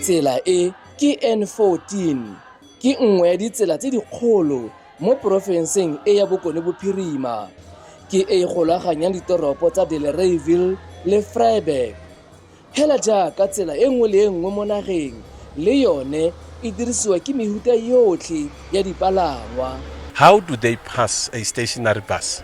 Tsela e ke N14, ke nngwe ya ditsela tse dikgolo mo porofenseng e ya Bokone Bophirima. Ke e e golaganyang ditoropo tsa Delareyville le Vryburg. Hela jaaka tsela e nngwe le e nngwe mo nageng, le yone e dirisiwa ke mehuta yotlhe ya dipalangwa. How do they pass a stationary bus?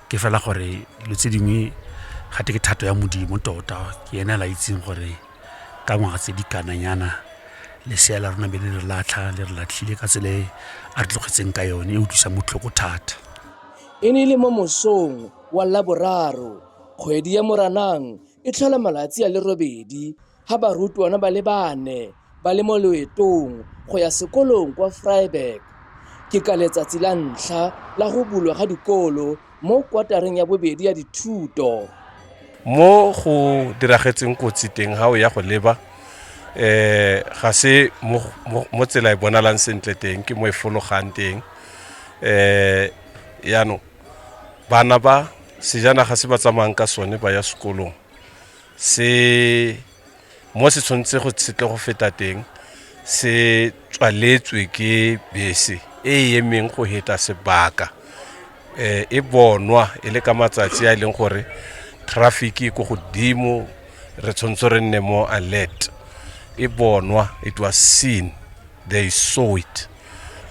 ke fela gore dilo tse dingwe ga twe ke thato ya Modimo tota, ke ene a la itseng gore ka ngwaga tse di kana nyana lesea la rona be le re latlha, le re latlhile ka tsela e a re tlogetseng ka yone e utlwisang botlhoko thata. E ne e le mo mosong wa Laboraro, kgwedi ya Moranang e tlhola malatsi a le robedi, ga barutwana ba le bane ba le mo loetong go ya sekolong kwa Vryburg. Ke ka letsatsi la ntlha la go bulwa ga dikolo mo kwatareng ya bobedi ya dithuto. Mo go diragetseng kotsi teng ga o ya go leba eh ga se mo, mo, mo tsela e bonalang sentle teng ke mo e fologang teng eh yaanong bana ba sejanaga se ba tsamayang ka sone ba ya sekolong se mo se tshwanetse go se tle go feta teng se tswaletswe ke bese e e emeng go heta sebaka um e bonwa e le ka matsatsi a e leng gore traffic e ko godimo re tshwanetse re nne mo alert e bonwa it was seen they saw it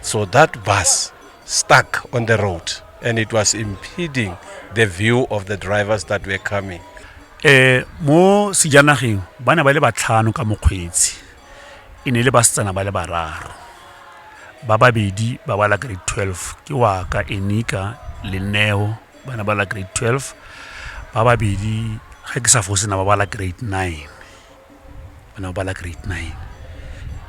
so that bus stuck on the road and it was impeding the view of the drivers that were coming. Eh, mo sejanageng ba ne ba le batlhano ka mokgweetsi e ne le basetsana ba le bararo ba babedi ba bala grade 12 ke wa ka enika le neo ba ne bala grade 12 ba babedi ga ke sa fosena ba bala grade 9 o ne o bala grade nine.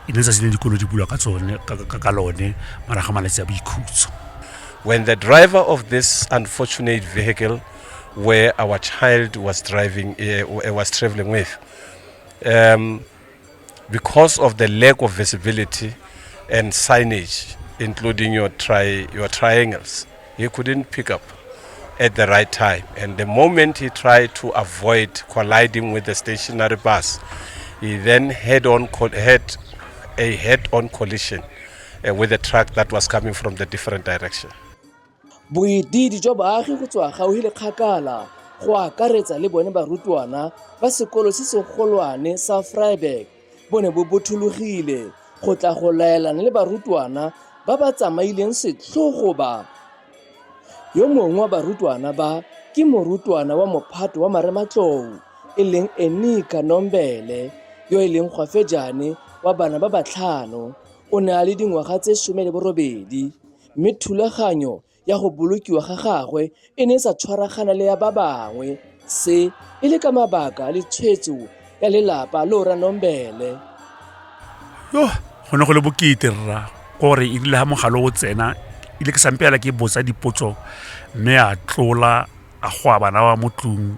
E ne e le letsatsi le dikolo di bulwa ka tsone, ka lone, morago ga malatsi a boikhutso. When the driver of this unfortunate vehicle where our child was driving, uh, was traveling with, um, because of the lack of visibility and signage, including your, tri your triangles, He couldn't pick up at the right time. And the moment he tried to avoid colliding with the stationary bus, he then head on had a head-on collision uh, with the truck that was coming from the different direction. boedidi jwa baagi go tswa gauhi le kgakala go akaretsa le bone barutwana ba sekolo se segolwane sa freiburg bo ne bo bothologile go tla go laelana le barutwana ba ba tsamaileng setlhogo ba. Yo mongwe wa barutwana ba ke morutwana wa mophato wa marematlou e leng Enika Nombele yo e leng gwafejane wa bana ba batlhano o ne a le dingwaga tse some le borobedi mme thulaganyo ya go bolokiwa ga gagwe e ne e sa tshwaragana le ya ba bangwe se e le ka mabaka le tshwetso ya lelapa le ora nombele yo go ne go le bokete rra gore e rile ga mogalo o tsena ile ke sampela ke botsa dipotso mme a tlola a go a bana wa mo tlung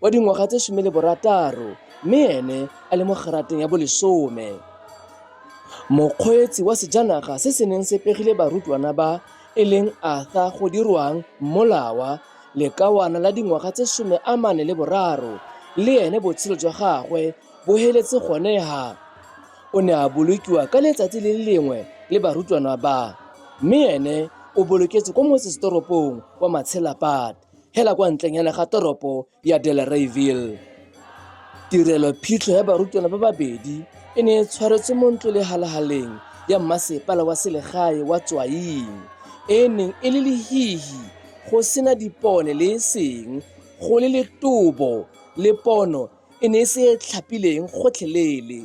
wa dingwaga tse some le borataro mme ene a le mo kgerateng ya bolesome mokgweetsi wa sejanaga se se neng se pegile barutwana ba e leng arthur go dirwang mmolawa lekawana la dingwaga tse some a mane le boraro le ene botshelo jwa gagwe bo heletse gone ha o ne a bolokiwa ka letsatsi le le lengwe le barutwana ba mme ene o boloketse kwa motsesetoropong wa matshelapate hela kwa ntlenyana ga toropo ya Delareyville. Tirelo phitlho ya barutwana ba babedi e ne e tshwaretswe mo ntlo le halahaleng ya mmasepala wa selegae wa Tswaing e neng e le lehihi go sena dipone le e seng go le letobo le pono e ne e se e tlhapileng gotlhelele.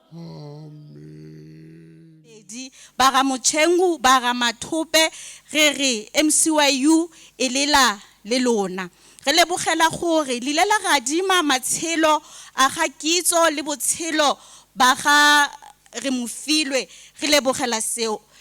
Amen. Pedi, ba ga Motšhengu, ba ga Mathope, re re MCYU e lela le lona. Re lebogela gore lile la gadima matshelo a ga Kitso le botshelo ba ga Remofilwe. Re lebogela seo.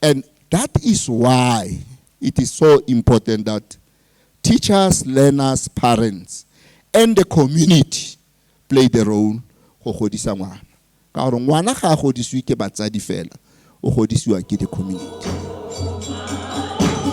And that is why it is so important that teachers, learners, parents, and the community play the role go godisa ngwana ka gore ngwana ga a godisiwe ke batsadi fela o godisiwa ke the community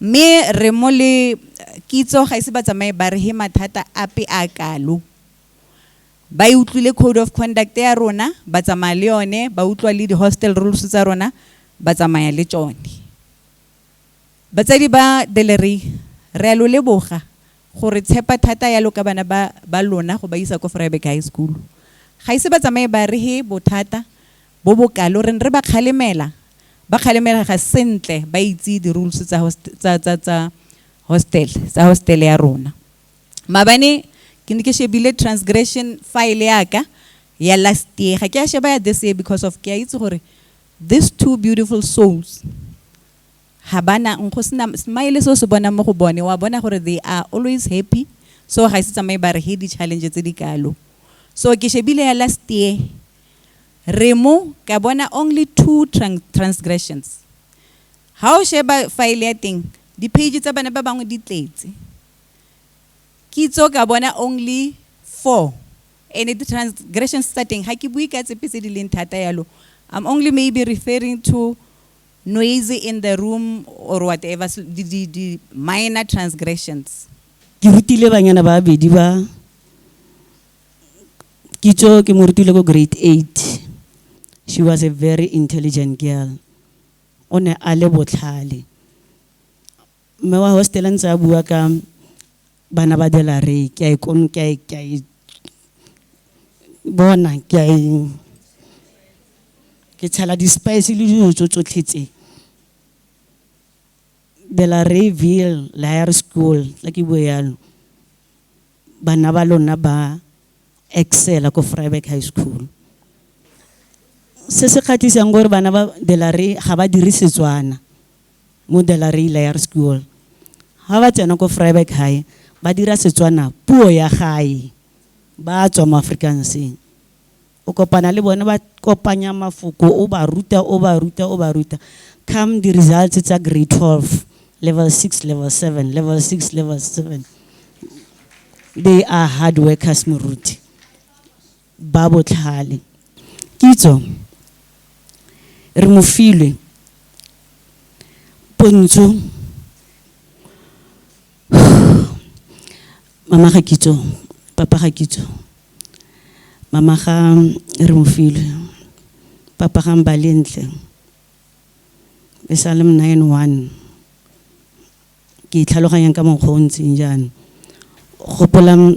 Mme re mo le kitso ga ise ba tsamaye ba re he mathata ape a kalo. Ba e utlwile code of conduct ya rona, ba tsamaya le yone, ba utlwa le di-hostel rules tsa rona, ba tsamaya le tsone. Batsadi ba Delery, re a lo leboga go re tshepa thata yalo ka bana ba lona go ba isa ko Vryburg High School. Ga ise ba tsamaye ba re he bothata, bo bo kalo re ne re ba kgalemela ba kgalemela ga sentle ba itse di rules tsa tsa tsa tsa hostel tsa hostel ya rona mabane ke ne ke shebile transgression file ya ka ya last year ga ke a sheba ya this year because of ke a itse gore these two beautiful souls ga bana go sena smile se o se bonang mo go bone wa bona gore they are always happy so ga e se tsamaye ba re he di-challenge tse di kalo so ke shebile ya last year Remo, ka bona only two transgressions. Ha o sheba file ya teng, di-page tsa bana ba bangwe di tletse. Kitso ka bona only four. And the transgressions tsa teng, ha ke bue ka tsepe tse di leng thata yalo. I'm only maybe referring to noisy in the room or whatever, the, the, the minor transgressions. Ke rutile banyana ba babedi ba kitso ke mo rutile ko grade eight she was a very intelligent girl o ne a le botlhale mme wa hostela ntse a bua ka bana ba delare ke a e kono ke a e ke a e bona ke a e ke tshela di-spice le dilo tso tsotlhe tse delare ville higher school la ke bue yalo Bana ba lona ba excela ko Vryburg High School. Se se kgatlhisang gore bana ba Delarey ga ba dire Setswana mo Delarey Layer School. Ga ba tsena ko Vryburg High ba dira Setswana puo ya gae ba tswa mo Afrikanseng. O kopana le bone ba kopanya mafoko o ba ruta o ba ruta o ba ruta. Come di results tsa grade 12, level 6, level 7, level 6, level 7. They are hard workers moruti. Ba botlhale. Kitso re mo filwe pontsho mama ga kitso papa ga kitso mama ga re mofilwe papa ga mbalentle e sa le mna ene one ke itlhaloganyang ka mokgwa o ntseng jaana gopolang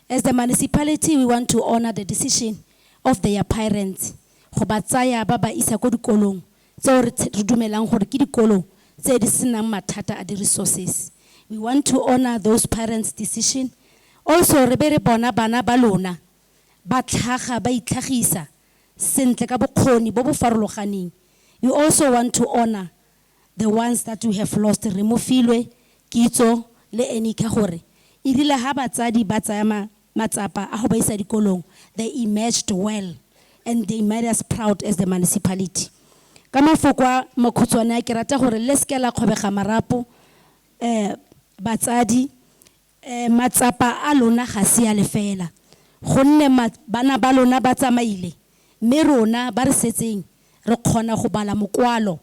As the municipality we want to honor the decision of their parents go ba tsaya ba ba isa ko dikolong tseo re re dumelang gore ke dikolo tse di senang mathata a di-resources. We want to honor those parents decision. Also re be re bona bana ba lona ba tlhaga ba itlhagisa sentle ka bokgoni bo bo farologaneng. We also want to honor the ones that we have lost re mo filwe kitso le ene ka gore e rile ha batsadi ba tsaya ma, matsapa a go ba isa dikolong they emerged well and they made us proud as the municipality ka mafoko a makhutshwane a ke rata gore le seke la kgobega marapo eh batsadi Ee, matsapa a lona ga se a lefeela, gonne bana ba lona ba tsamaile, mme rona ba re setseng re kgona go bala mokwalo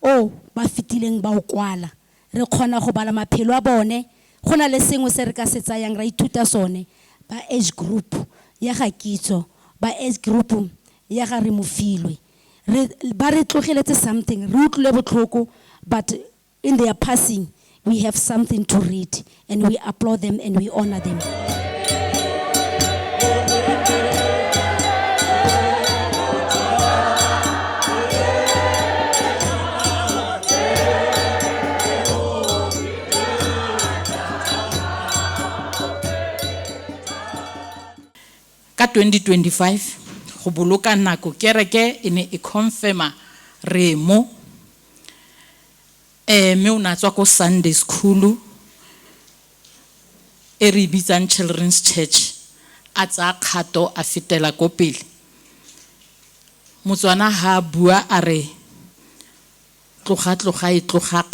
o ba fetileng ba o kwala. Re kgona go bala maphelo a bone. Go na le sengwe se re ka se tsayang ra ithuta sone, ba age group ya ga Kitso, ba age group ya ga Remofilwe. Re, ba re tlogeletse something, re utlwile botlhoko but In their passing, we have something to read and we applaud them and we honor them. ka 2025 go boloka nako kereke e ne e confirma remo um mme o ne a tswa ko Sunday school-u e re e bitsang Children's Church, a tsaya kgato a fetela ko pele. Motswana ha a bua a re tloga-tloga e tloga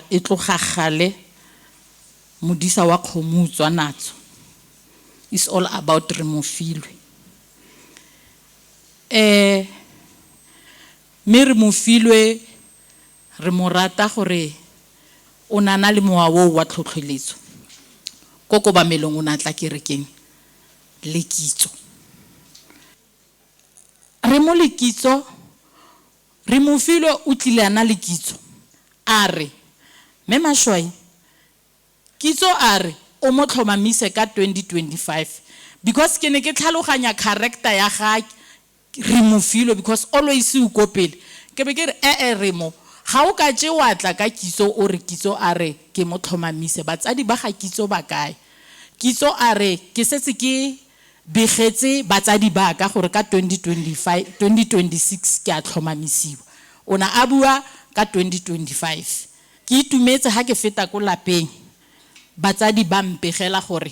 e tloga kgale, modisa wa kgomo o utswa natso, it's all about Remofilwe. Mme re mo filwe, re mo rata gore o ne a na le mowa oo wa tlhotlheletso, ko kobamelong o ne a tla kerekeng, le kitso. Re mo le kitso, re mo filwe o tlile a na le kitso. A re, Mme Mashwai, kitso a re o mo tlhomamise ka 2025, because ke ne ke tlhaloganya character ya ga Re mo filo because always o ko pele. Ke be ke re ee re mo. Ga o ka tše wa tla ka Kitso o re Kitso a re ke mo tlhomamise. Batsadi ba ga Kitso ba kae? Kitso a re ke setse ke begetse batsadi ba ka gore ka 2025, 2026 ke a tlhomamisiwa. O ne a bua ka 2025. Ke itumetse ga ke feta ko lapeng batsadi ba mpegela gore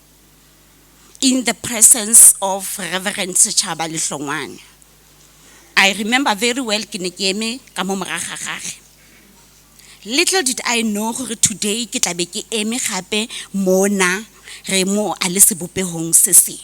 in the presence of Reverend Sechaba Lihlongwane. I remember very well ke ne ke eme ka mo morago ga gagwe. Little did I know gore today ke tla be ke eme gape mona re mo a le sebopegong se seng.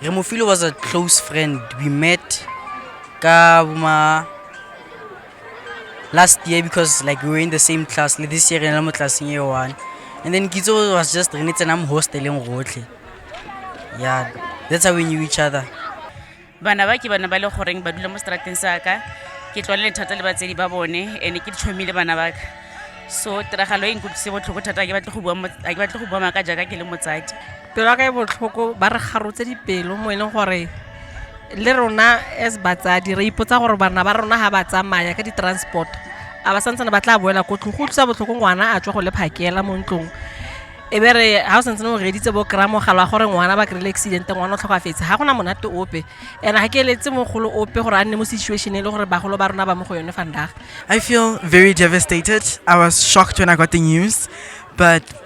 Remofilo was a close friend. We met ka boma last year because like we were in the same class. Like this year re na mo classeng e one. And then Kitso was just re ne tsena mo hosteleng rotlhe. Yeah, that's how we knew each other. bana ba ke bana ba le goreng ba dula mo strateng sa ka ke tlwalele thata le batsedi ba bone and ke ditšhomile bana ba ka so tiragalo e nkutlwise botlhoko thata ga ke batle go bua mo- ga ke batle go bua maaka jaaka ke le motsadi pelo ya ka e botlhoko ba re garotse dipelo mo e leng gore le rona as batsadi re ipotsa gore bana ba rona ga ba tsamaya ka di-transport a ba santsane ba tla boela ko tlong go utlwisa botlhoko ngwana a tswa go le phakela mo ntlong e be re ga o santse ne o reditse bo kry-a mogala wa gore ngwana ba kry-ile accident ngwana o tlhokafetse ga gona monate ope and ga ke eletse mogolo ope gore a nne mo situation e le gore bagolo ba rona ba mo go yone fandaga I feel very devastated. I was shocked when I got the news, but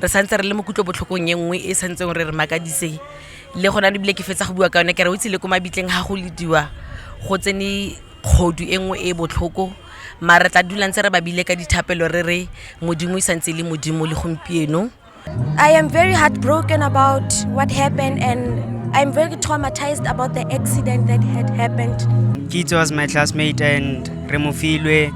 re santse re le mo kutlobotlhokong e nngwe e santseng re re makadise le gona le bile ke fetsa go bua ka yone ke re o itse le ko mabitleng ga go lediwa go tsene kgodu e nngwe e botlhoko ma re tla dulang tse re babile ka dithapelo re re modimo e santse le modimo le gompieno I am very heartbroken about what happened and I'm very traumatized about the accident that had happened. Kitso was my classmate and Remofilwe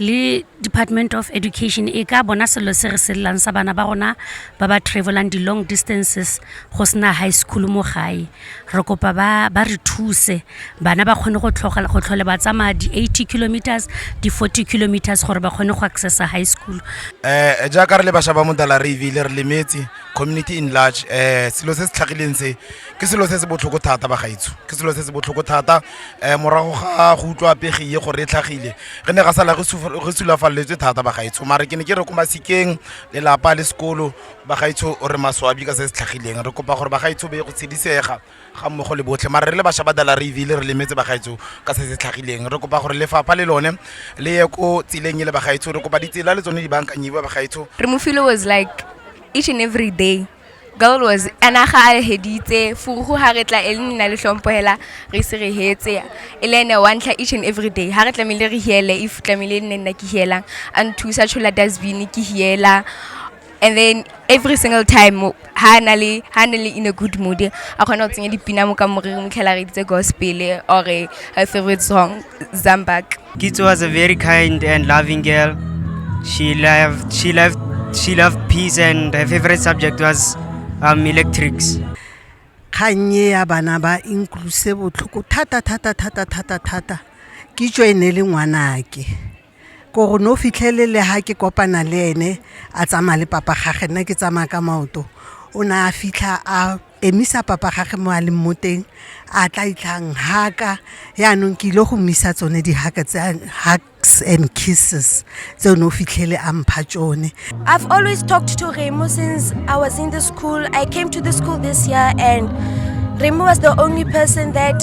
le department of education e ka bona selo se re selelang sa bana ba rona ba ba travelang di-long distances go sena high school mo gae re kopa ba, ba re thuse bana ba kgone go tlhole ba tsamaya di-80 kilometers di-40 kilometers gore ba kgone go accessa high school um jaaka re le bašwa ba modala re ebile re lemetse community in large um selo se se tlhagileng se ke selo se se botlhoko thata bagaetsho ke selo se se botlhoko thata um morago ga go utlwa pegi ye gore e tlhagile re ne ga sala re sulafaleletswe thata bagaetsho mare ke ne ke re ko masikeng lelapa le sekolo bagaetsho o re maswabi ka se se tlhagileng re kopa gore bagaetsho be go tshedisega ga mmogo le botlhe mare re le bašwa ba dala re ebile re lemetse bagaetsho ka se se tlhagileng re kopa gore lefapha le lone le ye ko tseleng e le bagaetsho re kopa ditsela le tsone di bankanyiwe bagaetsho re mofile was like each and every day Goal was ana ga a heditse furugu ha re tla e le nna le hlompo hela re se re hetse e le ene wa ntlha each and every day ha re tlamehile re hiele if tlamehile e nne nna ke hielang a nthusa tshola dustbin ke hiela and then every single time o- ha a na le ha a na le in a good mood a kgona go tsenya dipina mo ka moriri motlhela re editse gospel or her favorite song zambak Kitso was a very kind and loving girl. She loved, she loved, she loved peace and her favorite subject was um, electrics. kgang e ya bana ba incluse botlhoko thata thata thata thata thata kitso e ne le ngwanake ko go ne o fitlhelele ga ke kopana le ene a tsamaya le papa gage nna ke tsamaya ka maoto o ne a fitlha a emisa papa gage mo a leng mo teng a tla itlhang haka yaanong ke ile go mmisa tsone dihaka tse hugs and kisses tse o ne o fitlhele a mpha tsone i've always talked to remo since i was in the school i came to the school this year and remo was the only person that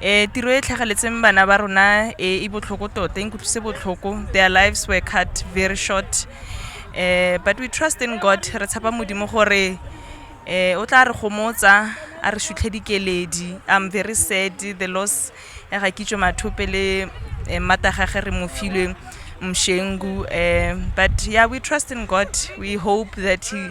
Eh tiro e tlhageletseng bana ba rona e e botlhoko tota e nkutlwise botlhoko their lives were cut very short eh but we trust in god re tshepa modimo gore eh o tla re gomotsa a re sutlhe dikeledi i'm very sad the loss ya ga kitso mathope le eh, mmata gage re mo filwe mshengu eh but yeah we trust in god we hope that he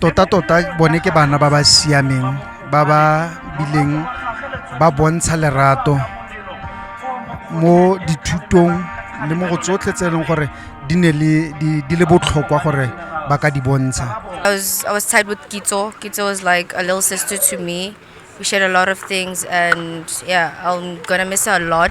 tota tota bone ke bana ba ba siameng ba ba bileng ba bontsha lerato mo dithutong le mo go tsotlhe tse e leng gore di ne le di le botlhokwa gore ba ka di bontsha I was, I was tied with Kitso. Kitso was like a little sister to me. We shared a lot of things, and yeah, I'm gonna miss her a lot.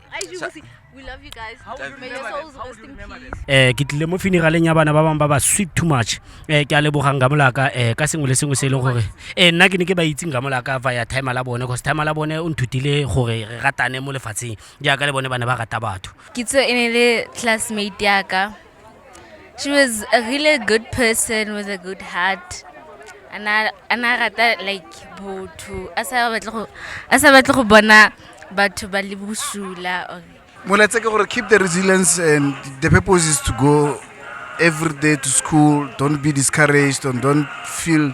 eh ke tlile mo funeraleng ya bana ba bangwe ba ba sweet too much eh ke a lebogang ka molaka eh ka sengwe le sengwe se e leng gore eh nna ke ne ke ba itseng ka molaka via timer la bone cause timer la bone o nthutile gore re ratane mo lefatsheng jaaka le bone ba ne ba rata batho kitso e ne le classmate yaka She was a really good person with a good heart. And I, and I rata like botho. A sa batle go a sa batle go bona batho ba le bosula or Moletse ke gore keep the resilience and the purpose is to go every day to school. Don't be discouraged and don't feel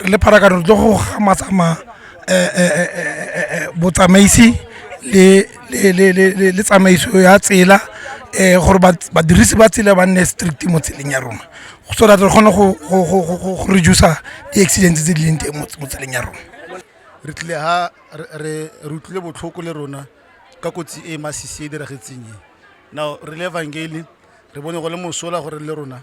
re le pharakano re tlo go gamatsamaya eh, eh, eh, botsamaisi le tsamaiso ya tsela um gore badirisi ba tsela ba nne strict mo tseleng ya rona so that re kgone go reducer di-accidents tse di leng teng mo tseleng ya rona re tlile ha re utlwile botlhoko le rona ka kotsi e masisi e diragetseng e now re le evangeli re bone go le mosola gore le rona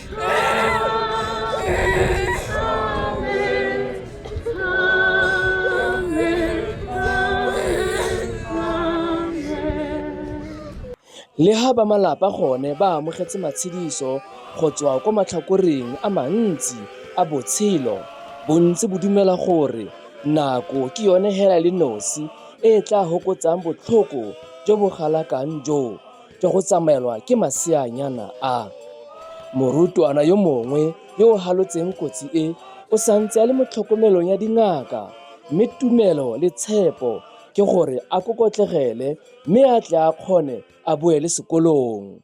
Le ha ba malapa gone ba amogetse matshediso go tswa kwa matlhakoreng a mantsi a botshelo, bontsi bo dumela gore nako ke yone hela le nosi e e tla hokotsang botlhoko jo bo galakang joo. jwa go tsamaelwa ke maseanyana a. Morutwana yo mongwe yo o halotseng kotsi e o sa ntse a le mo tlhokomelong ya dingaka mme tumelo le tshepo ke gore a kokotlegele mme a tle a kgone a boele sekolong.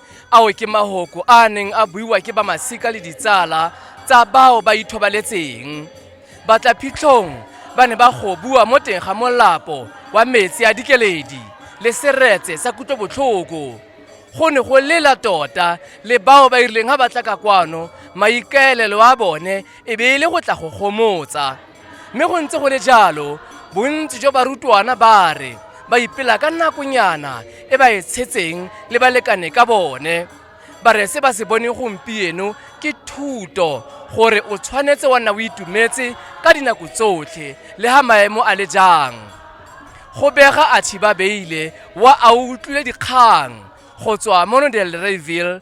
Ao ke mahoko a neng a buiwa ke ba masika le ditsala tsa bao ba ithobaletseng. Batlaphitlhong ba ne ba gobuwa mo teng ga molapo wa metsi a dikeledi le seretse sa kutlobotlhoko. Go ne go lela tota le bao ba irileng ga ba tla ka kwano maikaelelo a bone e be e le go tla go gomotsa. Mme go ntse go le jalo, bontsi jwa barutwana ba re ba ipela ka nakonyana e ba e tshetseng le balekane ka bone. Ba re se ba se bone gompieno ke thuto gore o tshwanetse wa nna o itumetse ka dinako tsotlhe le ha maemo a le jang. Go bega Athiba Beile wa a utlwile dikgang go tswa mo Del Reyville,